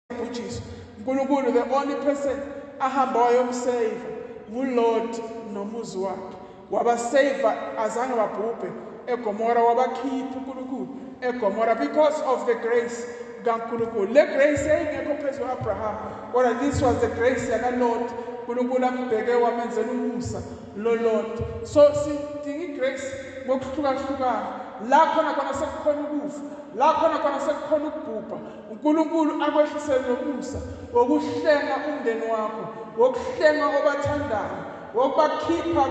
wayebhujiswa unkulunkulu the only person ahamba wayomsave ngulord nomuzi wakhe wabasave azange babhubhe egomora wabakhipha unkulunkulu egomora because of the grace kankulunkulu le grace yayingekho phezu kwa-abraham kodwa this was the grace yakalord unkulunkulu ambheke wamenzela umusa lolord so sidinga igrace ngokuhlukahlukana la khona khona sekukhona ukufa la khona khona sekukhona ukubhubha uNkulunkulu akwehlisele nomusa wokuhlenga umndeni wakho wokuhlenga obathandayo wokubakhipha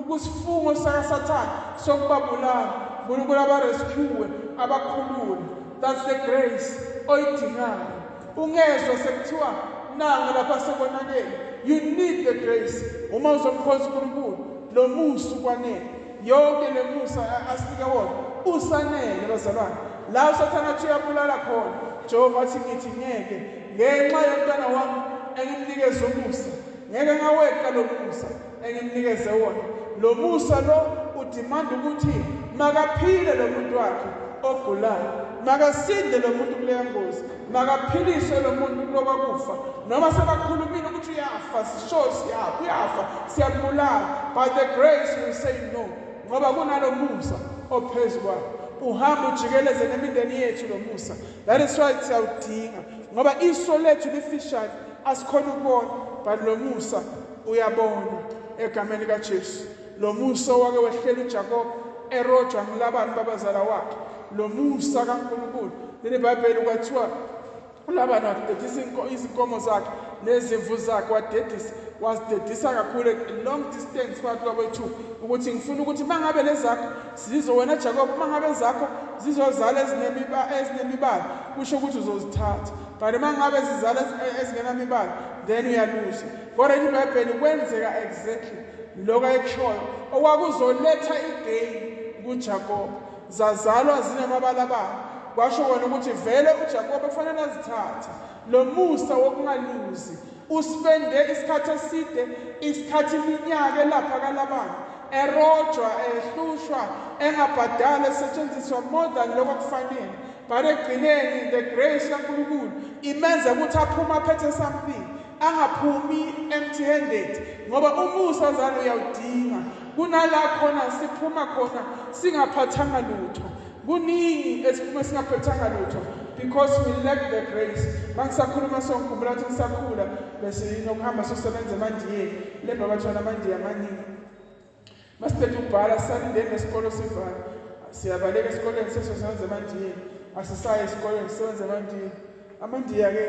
kusifungo sakasathane sokubabulala unkulunkulu abarescuwe abakhulule that's the grace oyidingayo ungezwa sekuthiwa nanga lapha sekonakele you need the grace uma uzomkhonza unkulunkulu lo musa ukwanele yonke le musa asinike wona usanele bazalwane la usathane athi uyabulala khona jehova athi ngithi ngeke ngenxa yomntana wami engimnikeze umusa ngeke ngaweqa lo musa engimnikeze wona lo musa lo udimanda ukuthi makaphile lo muntu wakhe ogulayo makasinde lo muntu kuleya ngozi makaphiliswe lo muntu kuloba kufa noma sebakhulumile ukuthi uyafa sisho siyafa uyafa siyambulala by the grace we say no ngoba kunalo musa ophezu kwakhe uhamba ujikeleze nemindeni yethu lo musa that is why siyawudinga ngoba iso lethu lifishane asikhona ukubona but lo musa uyabona egameni kajesu Lo musa owake wehlela uJakobe erojwa ngilabani babazala wakhe. Lo musa kaNkulunkulu. Leli Bhayibheli kwathiwa uLabani wadedisa izinkomo zakhe nezimvu zakhe wadedisa wasidedisa kakhulu long distance phakathi kwakwethu ukuthi ngifuna ukuthi uma ngabe lezakho zizo wena jakob uma ngabe zakho zizozala ezinemibala kusho ukuthi uzozithatha but uma ngabe zizala ezingenamibala then uyaluza kodwa ibhayibheli kwenzeka exactly lokho ayekushoyo okwakuzoletha igeyini kuJakobe zazalwa zinamabalabala kwasho kona ukuthi vele uJakobe kufanele azithathe lo musa wokungaluzi usipende isikhathi eside isikhathi iminyaka elapha kalabana erojwa ehlushwa engabhadali esetshenziswa more than lokho kufanele but ekugcineni the grace kaNkulunkulu imenza ukuthi aphume aphethe something angaphumi empty handed ngoba umusa zalo uyawudinga kunala khona siphuma khona singaphathanga lutho kuningi esiphume singaphathanga lutho because we lack the grace mangisakhuluma songikhumbula ukuthi ngisakhula bese yinokuhamba sosebenza emandiyeni le babathwana amandiya amaningi masiqeda ukubhala sisalindeni nesikolo sivala siyabaleka esikoleni sesosebenza emandiyeni asisayi esikoleni sisebenza emandiyeni amandiya-ke